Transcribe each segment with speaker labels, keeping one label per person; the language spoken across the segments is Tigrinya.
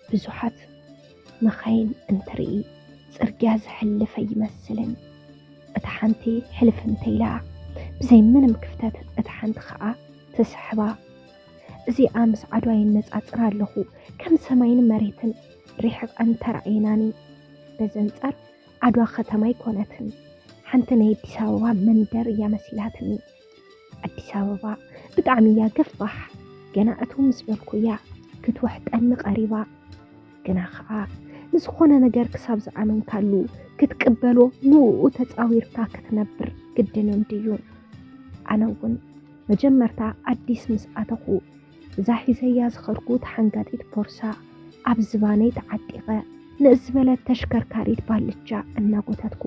Speaker 1: ብዙሓት መኻይን እንትርኢ ጽርግያ ዝሕልፍ ኣይመስልን። እታ ሓንቲ ሕልፍ እንተኢላ ብዘይ ምንም ክፍተት እታ ሓንቲ ኸኣ ትስሕባ። እዚኣ ምስ ዓድዋ ይነጻጽር ኣለኹ ከም ሰማይን መሬትን ሪሕቐን ተራእየናኒ። በዚ ኣንጻር ዓድዋ ከተማ ኣይኮነትን፣ ሓንቲ ናይ ኣዲስ ኣበባ መንደር እያ መሲላትኒ። ኣዲስ ኣበባ ብጣዕሚ እያ ገፋሕ ገና እቱ ምስ በልኩ እያ ክትወሕጠኒ ቀሪባ ግና ከዓ ንዝኾነ ነገር ክሳብ ዝኣመንካሉ ክትቅበሎ ንኡ ተፃዊርካ ክትነብር ግድን እንድዩ ኣነ እውን መጀመርታ ኣዲስ ምስ ኣተኹ እዛ ሒዘያ ዝኸድኩ ተሓንጋጢት ቦርሳ ኣብ ዝባነይ ተዓጢቐ ንእስ ዝበለት ተሽከርካሪት ባልቻ እናጎተትኩ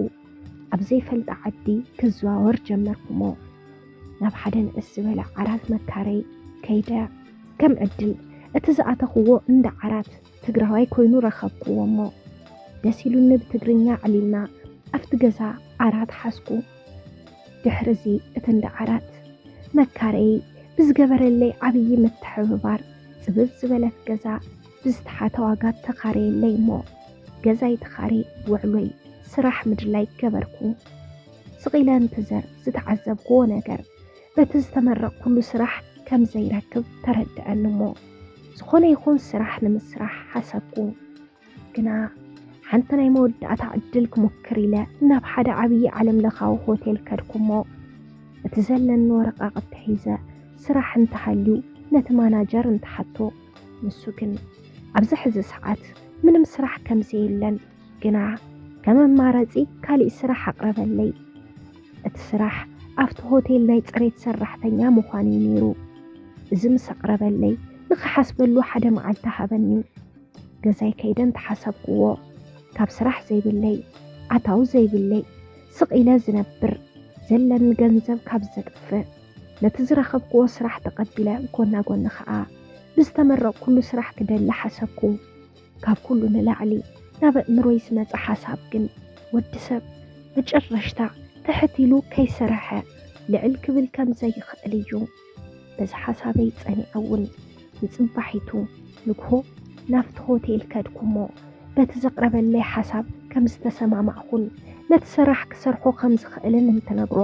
Speaker 1: ኣብ ዘይፈልጣ ዓዲ ክዘዋወር ጀመርኩሞ ናብ ሓደ ንእስ ዝበለ ዓራት መካረይ ከይደ ከም ዕድል እቲ ዝኣተኽዎ እንዳ ዓራት ትግራዋይ ኮይኑ ረኸብክዎ እሞ ደስ ኢሉኒ ብትግርኛ ዕሊልና ኣብቲ ገዛ ዓራት ሓዝኩ ድሕሪ እዚ እቲ እንዳ ዓራት መካረይ ብዝገበረለይ ዓብዪ ምትሕብባር ፅብብ ዝበለት ገዛ ብዝተሓተ ዋጋ ተኻረየለይ እሞ ገዛይ ተኻርየ ውዕሎይ ስራሕ ምድላይ ገበርኩ። ስቕ ኢለ እንትዘር ዝተዓዘብኩዎ ነገር በቲ ዝተመረቕኩሉ ስራሕ ከም ዘይረክብ ተረድዐኒ እሞ ዝኾነ ይኹን ስራሕ ንምስራሕ ሓሰብኩ። ግና ሓንቲ ናይ መወዳእታ ዕድል ክሙክር ኢለ ናብ ሓደ ዓብዪ ዓለም ለኻዊ ሆቴል ከድኩ እሞ እቲ ዘለኒ ወረቓቕቲ ሒዘ ስራሕ እንተሃልዩ ነቲ ማናጀር እንተሓቶ ንሱ ግን ኣብዚ ሕዚ ሰዓት ምንም ስራሕ ከምዘየለን ግና ከም ኣማራፂ ካሊእ ስራሕ ኣቕረበለይ። እቲ ስራሕ ኣብቲ ሆቴል ናይ ፅሬት ሰራሕተኛ ምዃን እዩ ነይሩ። እዚ ምስ ኣቕረበለይ ንኽሓስበሉ ሓደ መዓልቲ ሃበኒ። ገዛይ ከይደ እንተሓሰብክዎ ካብ ስራሕ ዘይብለይ ኣታዊ ዘይብለይ ስቕ ኢለ ዝነብር ዘለኒ ገንዘብ ካብ ዘጥፍእ ነቲ ዝረኸብክዎ ስራሕ ተቐቢለ ጎና ጎኒ ኸኣ ብዝተመረቕኩሉ ስራሕ ክደሊ ሓሰብኩ። ካብ ኩሉ ንላዕሊ ናብ ኣእምሮይ ዝመጸ ሓሳብ ግን ወዲ ሰብ መጨረሽታ ትሕት ኢሉ ከይሰርሐ ልዕል ክብል ከም ዘይኽእል እዩ። በዚ ሓሳበይ ጸኒዐ እውን ንጽባሒቱ ንግሆ ናብቲ ሆቴል ከድኩ'ሞ፣ በቲ ዘቕረበለይ ሓሳብ ከም ዝተሰማማዕኹን ነቲ ስራሕ ክሰርሖ ከም ዝኽእልን እንትነግሮ፣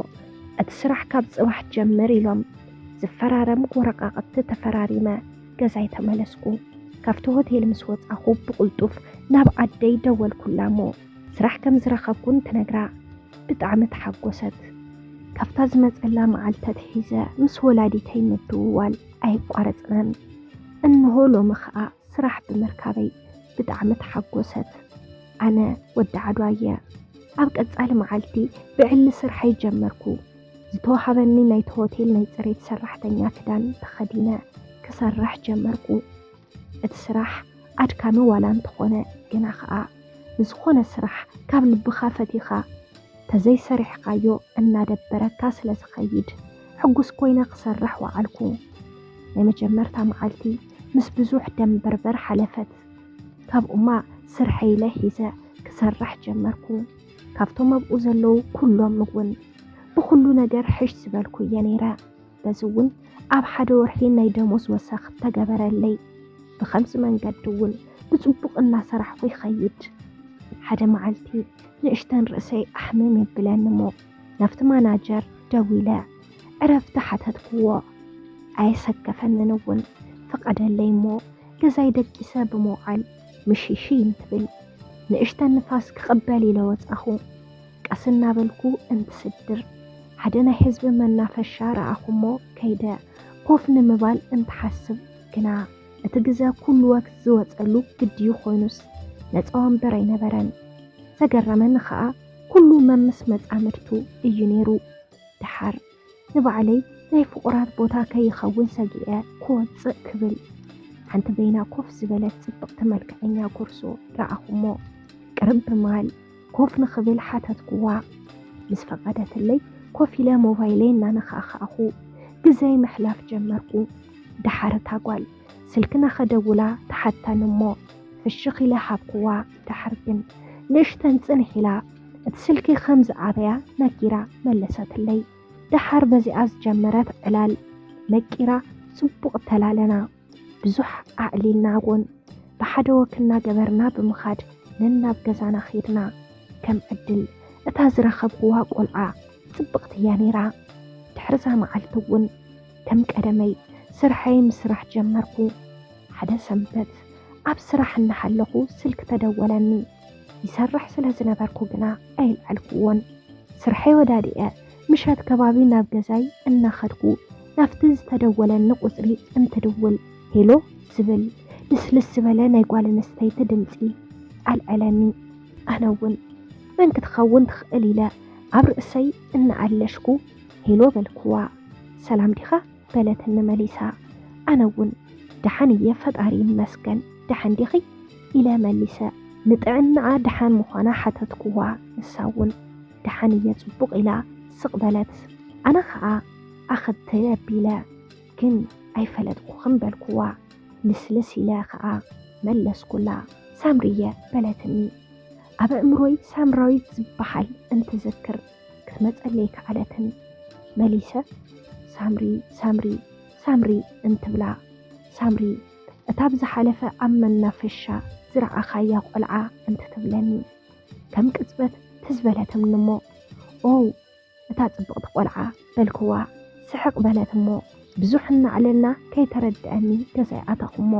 Speaker 1: እቲ ስራሕ ካብ ጽባሕ ጀምር ኢሎም ዝፈራረም ወረቓቕቲ ተፈራሪመ ገዛይ ተመለስኩ። ካብቲ ሆቴል ምስ ወጻኹ ብቕልጡፍ ናብ ኣደይ ደወልኩላ'ሞ ስራሕ ከም ዝረኸብኩ እንትነግራ ብጣዕሚ ተሓጎሰት። ካብታ ዝመጸላ መዓልቲ ኣትሒዘ ምስ ወላዲተይ ምድውዋል ኣይቋረፅናን እንሆ ሎሚ ከዓ ስራሕ ብምርካበይ ብጣዕሚ ተሓጎሰት ኣነ ወዲ ዓድዋ እየ ኣብ ቀፃሊ መዓልቲ ብዕሊ ስርሐይ ጀመርኩ ዝተዋሃበኒ ናይቲ ሆቴል ናይ ፅሬት ሰራሕተኛ ክዳን ተኸዲነ ክሰርሕ ጀመርኩ እቲ ስራሕ ኣድካሚ ዋላ እንተኾነ ግና ኸኣ ንዝኾነ ስራሕ ካብ ልብኻ ፈቲኻ ተዘይሰሪሕኻዮ እናደበረካ ስለ ዝኸይድ ሕጉስ ኮይነ ክሰርሕ ወዓልኩ። ናይ መጀመርታ መዓልቲ ምስ ብዙሕ ደምበርበር ሓለፈት። ካብኡማ ስርሐይ ኢለ ሒዘ ክሰርሕ ጀመርኩ። ካብቶም ኣብኡ ዘለዉ ኩሎም እውን ብኹሉ ነገር ሕሽ ዝበልኩ እየ ነይረ። በዚ እውን ኣብ ሓደ ወርሒ ናይ ደሞዝ ወሰኽ ተገበረለይ። ብኸምዚ መንገዲ እውን ብፅቡቕ እናሰራሕኹ ይኸይድ። ሓደ መዓልቲ ንእሽተን ርእሰይ ኣሕምም የብለኒ እሞ ናብቲ ማናጀር ደዊለ ዕረፍቲ ሓተትክዎ። ኣየሰከፈንን እውን ፍቐደለይ እሞ ገዛይ ደቂሰ ብምውዓል ምሽይሽይ እንትብል ንእሽተን ንፋስ ክቕበል ኢለ ወፃኹ። ቀስ እናበልኩ እንትስድር ሓደ ናይ ህዝቢ መናፈሻ ረኣኹሞ ከይደ ኮፍ ንምባል እንትሓስብ ግና እቲ ግዘ ኩሉ ወቅት ዝወፀሉ ግድዩ ኮይኑስ ነፃ ወንበር ኣይነበረን። ዘገረመኒ ኸዓ ኩሉ መምስ መፃምድቱ እዩ ነይሩ። ደሓር ንባዕለይ ናይ ፍቑራት ቦታ ከይኸውን ሰጊኤ ክወፅእ ክብል ሓንቲ በይና ኮፍ ዝበለት ጽብቕቲ መልክዐኛ ኩርሱ ረኣኹሞ። ቅርብ ብማል ኮፍ ንኽብል ሓተትኩዋ። ምስ ፈቐደትለይ ኮፍ ኢለ ሞባይለይ እናነኻእኻእኹ ግዘይ ምሕላፍ ጀመርኩ። ደሓር እታ ጓል ስልክና ከደውላ ተሓተኒ እሞ ፍሽኽ ኢለ ሃብኩዋ። ደሓር ግን ንእሽተን ጽንሕ ኢላ እቲ ስልኪ ከም ዝዓበያ ነጊራ መለሰትለይ። ደሓር በዚኣ ዝጀመረት ዕላል ነቂራ ጽቡቕ ተላለና። ብዙሕ ኣዕሊልና እውን ብሓደ ወክ እናገበርና ብምኻድ ነናብ ገዛና ኼድና። ከም ዕድል እታ ዝረኸብኩዋ ቆልዓ ጽብቕቲ እያ ነይራ። ድሕርዛ መዓልቲ እውን ከም ቀደመይ ስርሐይ ምስራሕ ጀመርኩ። ሓደ ሰንበት ኣብ ስራሕ እናሃለኹ ስልኪ ተደወለኒ። ይሰርሕ ስለ ዝነበርኩ ግና ኣይልዓልኩዎን። ስርሐይ ወዳዲኤ ምሸት ከባቢ ናብ ገዛይ እናኸድኩ ናብቲ ዝተደወለኒ ቁፅሪ እንትድውል ሄሎ ዝብል ልስልስ ዝበለ ናይ ጓል ኣንስተይቲ ድምፂ ኣልዐለኒ። ኣነ እውን መን ክትኸውን ትኽእል ኢለ ኣብ ርእሰይ እናኣለሽኩ ሄሎ በልኩዋ። ሰላም ዲኻ? በለትኒ መሊሳ። ኣነ እውን ደሓን እየ ፈጣሪ ይመስገን ደሓን ዲኺ? ኢለ መሊሰ ንጥዕናኣ ደሓን ምዃና ሓተትኩዋ። ንሳ እውን ደሓን እየ ፅቡቕ ኢላ ስቕ በለት። ኣነ ከዓ ኣኸብቲ ኣቢለ ግን ኣይፈለጥኩኽን በልኩዋ። ልስልስ ኢለ ከዓ መለስኩላ። ሳምሪየ በለትኒ ኣብ ኣእምሮይ ሳምራዊት ዝበሃል እንትዝክር። ክትመፀለይ ከኣለትን። መሊሰ ሳምሪ ሳምሪ ሳምሪ እንትብላ ሳምሪ እታ ብዝሓለፈ ኣብ መናፈሻ ዝረኣኻያ ቆልዓ እንትትብለኒ ከም ቅፅበት ትዝ በለትምኒ እሞ ኦው እታ ፅብቕቲ ቆልዓ በልክዋ ስሕቅ በለት እሞ ብዙሕ እናዕለልና ከይተረደኣኒ ገዛይ ኣተኹሞ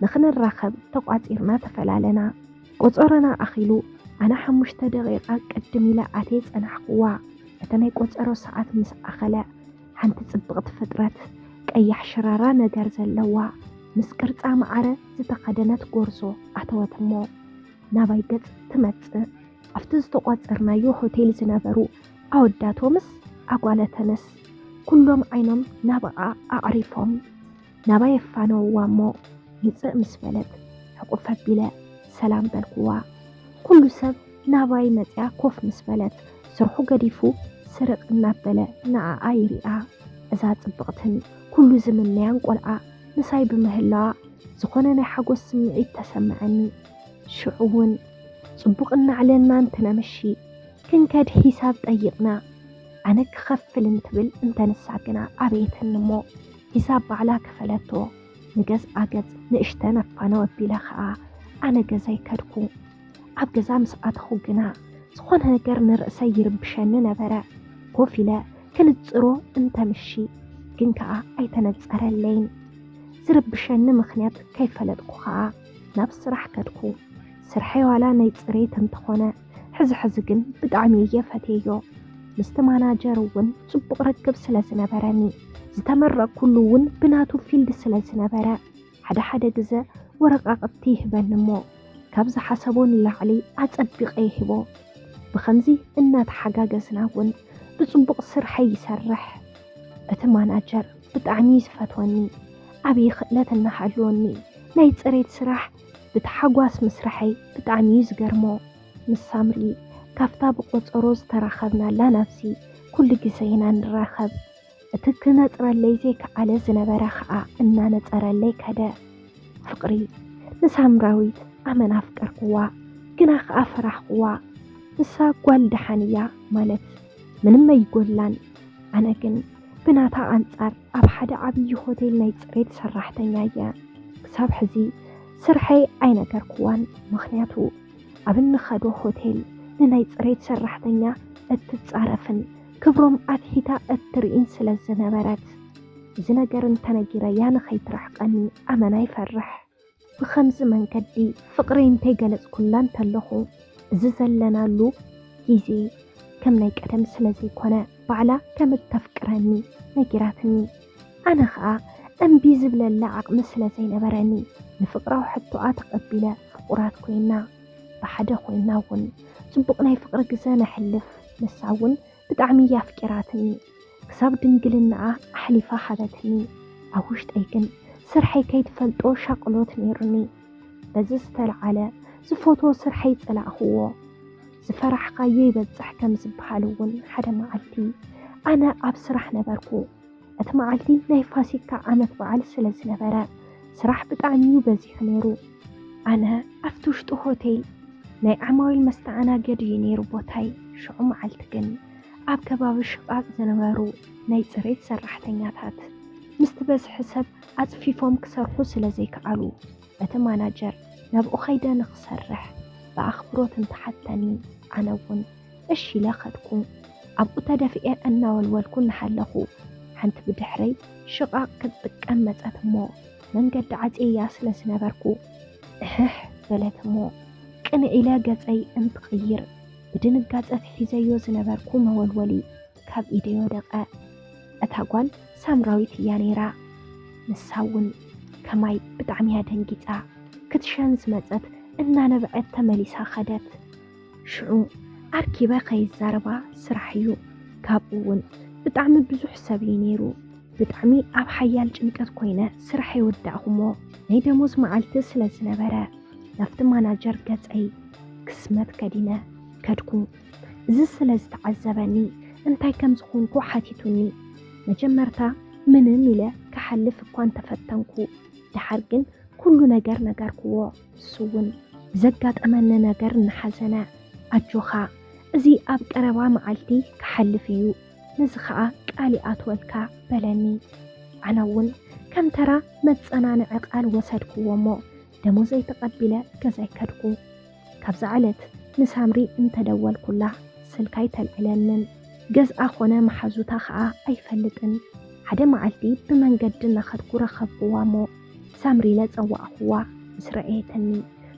Speaker 1: ንኽንራኸብ ተቋፂርና ተፈላለና ቆፆሮና ኣኺሉ ኣነ ሓሙሽተ ደቂቃ ቅድም ኢለ ኣትየ ፀናሕክዋ እቲ ናይ ቆፀሮ ሰዓት ምስ ኣኸለ ሓንቲ ፅብቅቲ ፍጥረት ቀያሕ ሽራራ ነገር ዘለዋ ምስ ቅርፃ መዓረ ዝተኸደነት ጎርዞ ኣተወት እሞ ናባይ ገፅ ትመፅእ ኣብቲ ዝተቋፀርናዮ ሆቴል ዝነበሩ ኣወዳቶምስ ኣጓለተንስ ኩሎም ዓይኖም ናባኣ ኣዕሪፎም ናባይ የፋነውዋ'ሞ ምጽእ ምስ በለት ሕቁፍ ኣቢለ ሰላም በልኩዋ። ኩሉ ሰብ ናባይ መጺኣ ኮፍ ምስ በለት ስርሑ ገዲፉ ስርቅ እናበለ ንኣኣ ይሪኣ። እዛ ጽብቕትን ኩሉ ዝምነያን ቆልዓ ምሳይ ብምህላዋ ዝኾነ ናይ ሓጎስ ስምዒት ተሰመዐኒ። ሽዑ'ውን ጽቡቅ እናዕለልና እንትነምሺ ክንከድ ሒሳብ ጠይቅና ኣነ ክኸፍል እንትብል እንተ ንሳ ግና ኣበየትኒ እሞ ሒሳብ ባዕላ ክፈለቶ ንገዝኣ ገጽ ንእሽተን ኣፋነው ኣቢለ ከኣ ኣነ ገዛይ ከድኩ ኣብ ገዛ ምስ ኣተኹ ግና ዝኾነ ነገር ንርእሰይ ይርብሸኒ ነበረ ኮፍ ኢለ ክንጽሮ እንተምሺ ግን ከኣ ኣይተነጸረለይን ዝርብሸኒ ምኽንያት ከይፈለጥኩ ከኣ ናብ ስራሕ ከድኩ። ስርሐይ ዋላ ናይ ፅሬት እንተኾነ ሕዚ ሕዚ ግን ብጣዕሚ እየ ፈትየዮ። ምስቲ ማናጀር እውን ፅቡቕ ርክብ ስለ ዝነበረኒ ዝተመረቕኩሉ እውን ብናቱ ፊልድ ስለ ዝነበረ ሓደ ሓደ ግዘ ወረቃቕቲ ይህበኒ እሞ ካብ ዝሓሰቦ ንላዕሊ ኣፀቢቐ ይህቦ። ብኸምዚ እናተሓጋገዝና እውን ብፅቡቕ ስርሐይ ይሰርሕ። እቲ ማናጀር ብጣዕሚ ዝፈትወኒ ዓብዪ ክእለት እናሃለወኒ ናይ ፅሬት ስራሕ ብታሓጓስ ምስርሐይ ብጣዕሚ እዩ ዝገርሞ። ምስ ሳምሪ ካፍታ ብቆፀሮ ዝተራኸብናላ ናብዚ ኩሉ ግዘ ኢና ንራኸብ። እቲ ክነፅረለይ ዘይከኣለ ዝነበረ ከዓ እናነፀረለይ ከደ። ፍቕሪ ንሳምራዊት ኣመን ኣፍቀርክዋ ግና ከዓ ፈራሕክዋ ንሳ ጓል ደሓን እያ ማለት ምንም ኣይጎድላን። ኣነ ግን ብናታ ኣንጻር ኣብ ሓደ ዓብዪ ሆቴል ናይ ጽሬት ሰራሕተኛ እየ። ክሳብ ሕዚ ስርሐይ ኣይነገርኩዋን፣ ምኽንያቱ ኣብ እንኸዶ ሆቴል ንናይ ጽሬት ሰራሕተኛ እትጻረፍን ክብሮም ኣትሒታ እትርኢን ስለ ዝነበረት እዚ ነገር እንተነጊረያ ንኸይትርሕቀኒ ኣመና ይፈርሕ። ብኸምዚ መንገዲ ፍቕረይ እንተይገለጽኩላ እንተለኹ፣ እዚ ዘለናሉ ግዜ ከም ናይ ቀደም ስለ ዘይኮነ፣ ባዕላ ከም እተፍቅረኒ ነጊራትኒ። ኣነ ኸኣ እምቢ ዝብለላ ዓቕሚ ስለ ዘይነበረኒ፣ ንፍቕራዊ ሕቶኣ ተቐቢለ ፍቑራት ኮይና። ብሓደ ኮይና እውን ጽቡቕ ናይ ፍቕሪ ግዘ ነሕልፍ፣ ንሳ እውን ብጣዕሚ እያ ኣፍቂራትኒ ክሳብ ድንግልናኣ ኣሕሊፋ ሃበትኒ ኣብ ውሽጠይ ግን ስርሐይ ከይትፈልጦ ሻቅሎት ነይሩኒ በዚ ዝተልዓለ ዝፈትዎ ስርሐይ ፀላእክዎ ዝፈራሕካዮ ይበፅሕ ከምዝበሃል እውን ሓደ መዓልቲ ኣነ ኣብ ስራሕ ነበርኩ እቲ መዓልቲ ናይ ፋሲካ ዓመት በዓል ስለ ዝነበረ ስራሕ ብጣዕሚ እዩ በዚሑ ነይሩ። ኣነ ኣብቲ ውሽጢ ሆቴል ናይ ዓማዊል መስተኣናገዲ እዩ ነይሩ ቦታይ። ሽዑ መዓልቲ ግን ኣብ ከባቢ ሽቓቕ ዝነበሩ ናይ ፅሬት ሰራሕተኛታት ምስቲ በዝሒ ሰብ ኣፅፊፎም ክሰርሑ ስለ ዘይከኣሉ እቲ ማናጀር ናብኡ ከይደ ንክሰርሕ ብኣኽብሮት እንተሓተኒ ኣነ እውን እሺ ኢለ ከድኩ። ኣብኡ ተደፊኤ እናወልወልኩ እናሃለኹ፣ ሓንቲ ብድሕረይ ሽቓቕ ክትጥቀም መጸት እሞ፣ መንገዲ ዓጽየያ ስለ ዝነበርኩ፣ እሕሕ በለት እሞ፣ ቅንዕ ኢለ ገጸይ እንትቕይር፣ ብድንጋጸ እቲ ሒዘዮ ዝነበርኩ መወልወሊ ካብ ኢደይ ወደቐ። እታ ጓል ሳምራዊት እያ ነይራ። ንሳ እውን ከማይ ብጣዕሚ እያ ደንጊጻ። ክትሸን ዝመጸት እናነበዐት ተመሊሳ ከደት። ሽዑ ኣርኪበ ከይዛረባ ስራሕ እዩ ካብኡ እውን ብጣዕሚ ብዙሕ ሰብ እዩ ነይሩ ብጣዕሚ ኣብ ሓያል ጭንቀት ኮይነ ስራሕ የወዳእኹሞ ናይ ደሞዝ መዓልቲ ስለ ዝነበረ ናብቲ ማናጀር ገፀይ ክስመት ከዲነ ከድኩ እዚ ስለ ዝተዓዘበኒ እንታይ ከም ዝኾንኩ ሓቲቱኒ መጀመርታ ምንም ኢለ ክሓልፍ እኳ እንተፈተንኩ ደሓር ግን ኩሉ ነገር ነገርኩዎ ንሱውን ዘጋጠመኒ ነገር እናሓዘነ ኣጆኻ እዚ ኣብ ቀረባ መዓልቲ ክሓልፍ እዩ ነዚ ኸኣ ቃል ይኣትወልካ በለኒ። ኣነውን ከም ተራ መጸናንዒ ቃል ወሰድክዎሞ ደሞዘይ ተቐቢለ ገዛይ ከድኩ። ካብዛ ዕለት ንሳምሪ እንተደወልኩላ ስልካ ኣይተልዕለንን። ገዝኣ ኮነ መሓዙታ ኸኣ ኣይፈልጥን። ሓደ መዓልቲ ብመንገዲ እናኸድኩ ረኸብክዋሞ ሳምሪ ኢለ ጸዋዕኹዋ ምስ ረኣየትኒ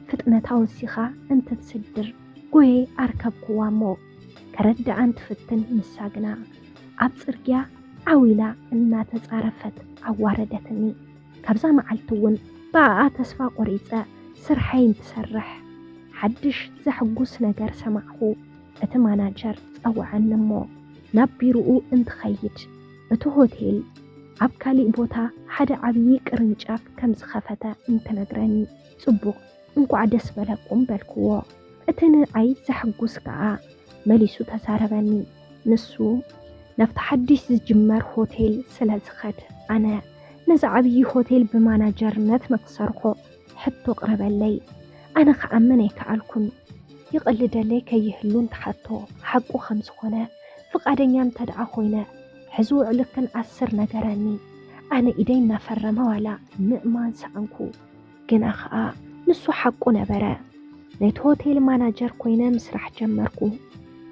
Speaker 1: ፍጥነታ ወሲኻ እንትትስድር ጎየ ኣርከብኩዋ እሞ ከረድኣን ትፍትን ንሳ ግና ኣብ ጽርግያ ዓው ኢላ እናተጻረፈት ኣዋረደትኒ ካብዛ መዓልቲ እውን ብኣኣ ተስፋ ቆሪጸ ስርሐይ እንትሰርሕ ሓድሽ ዘሕጉስ ነገር ሰማዕኹ እቲ ማናጀር ጸወዐኒ እሞ ናብ ቢሮኡ እንትኸይድ እቲ ሆቴል ኣብ ካሊእ ቦታ ሓደ ዓብዪ ቅርንጫፍ ከም ዝኸፈተ እንትነግረኒ ፅቡቕ እንኳዕ ደስ በለኩም በልክዎ። እቲ ንኣይ ዘሕጉስ ከዓ መሊሱ ተዛረበኒ። ንሱ ናብቲ ሓድሽ ዝጅመር ሆቴል ስለ ዝኸድ ኣነ ነዚ ዓብዪ ሆቴል ብማናጀርነት ንክሰርሖ ሕቶ ኣቕረበለይ። ኣነ ክኣምን ኣይከኣልኩን። ይቕልደለይ ከይህሉ እንተሓቶ ሓቁ ከም ዝኾነ ፍቓደኛ እንተድኣ ኮይነ ሕዚ ውዕልክን ኣስር ነገረኒ። ኣነ ኢደይ እናፈረመ ዋላ ምእማን ሰኣንኩ። ግና ከኣ ንሱ ሓቁ ነበረ። ነቲ ሆቴል ማናጀር ኮይነ ምስራሕ ጀመርኩ።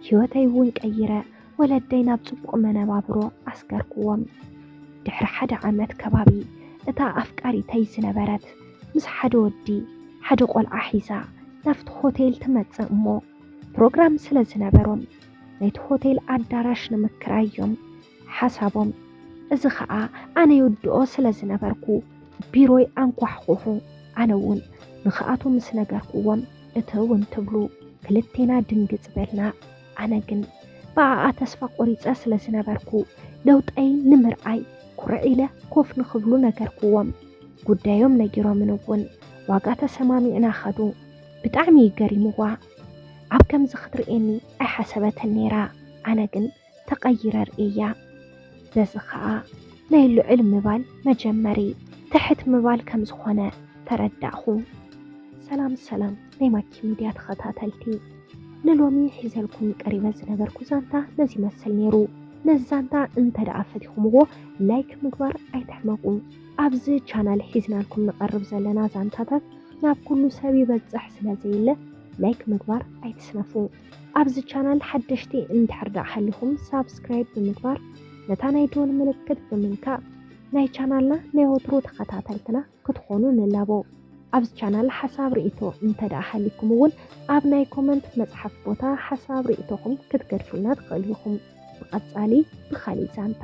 Speaker 1: ህይወተይ እውን ቀይረ። ወለደይ ናብ ጽቡቕ መነባብሮ ኣስገርኩዎም። ድሕሪ ሓደ ዓመት ከባቢ እታ ኣፍቃሪተይ ዝነበረት ምስ ሓደ ወዲ ሓደ ቆልዓ ሒዛ ናብቲ ሆቴል ትመጽእ እሞ ፕሮግራም ስለ ዝነበሮም ነቲ ሆቴል ኣዳራሽ ንምክራይ እዮም ሓሳቦም። እዚ ኸኣ ኣነ ይውድኦ ስለ ዝነበርኩ ቢሮይ ኣንኳሕኩሑ። ኣነ እውን ንኽኣቱ ምስ ነገርኩዎም እትው እንትብሉ ክልቴና ድንግጽ በልና። ኣነ ግን ብኣኣ ተስፋ ቆሪፀ ስለ ዝነበርኩ ለውጠይ ንምርኣይ ኩርዕ ኢለ ኮፍ ንክብሉ ነገርኩዎም። ጉዳዮም ነጊሮምን እውን ዋጋ ተሰማሚዕና ከዱ። ብጣዕሚ እዩ ገሪምዋ። ኣብ ከምዚ ክትርእየኒ ኣይሓሰበትን ነይራ። ኣነ ግን ተቐይረ ርእየያ። ስለዚ ኸኣ ናይ ልዑል ምባል መጀመሪ ትሕት ምባል ከም ዝኾነ ተረዳእኹ። ሰላም ሰላም ናይ ማኪ ሚድያ ተኸታተልቲ፣ ንሎሚ ሒዘልኩም ቀሪበ ዝነበርኩ ዛንታ ነዚ ይመስል ነይሩ። ነዚ ዛንታ እንተ ደኣ ፈቲኹምዎ ላይክ ምግባር ኣይትሕመቁ። ኣብዚ ቻናል ሒዝናልኩም ንቐርብ ዘለና ዛንታታት ናብ ኩሉ ሰብ ይበጽሕ ስለ ዘየለ ላይክ ምግባር ኣይትስነፉ። ኣብዚ ቻናል ሓደሽቲ እንድሕር ደኣ ሃሊኹም ሳብስክራይብ ብምግባር ነታ ናይ ደወል ምልክት ብምንካእ ናይ ቻናልና ናይ ወትሩ ተኸታተልትና ክትኾኑ ንላቦ። ኣብዚ ቻናል ሓሳብ ርእይቶ እንተ ደኣ ሃሊኩም እውን ኣብ ናይ ኮመንት መጽሓፍ ቦታ ሓሳብ ርእይቶኹም ክትገድፉልና ትኽእሉ ኢኹም። ብቐጻሊ ብኻሊእ ዛንታ፣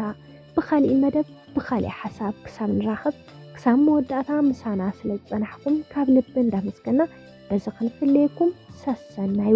Speaker 1: ብኻሊእ መደብ፣ ብኻሊእ ሓሳብ ክሳብ ንራኸብ ክሳብ መወዳእታ ምሳና ስለ ዝጸናሕኩም ካብ ልቢ እንዳመስገና በዚ ክንፍለየኩም ሰሰናዩ።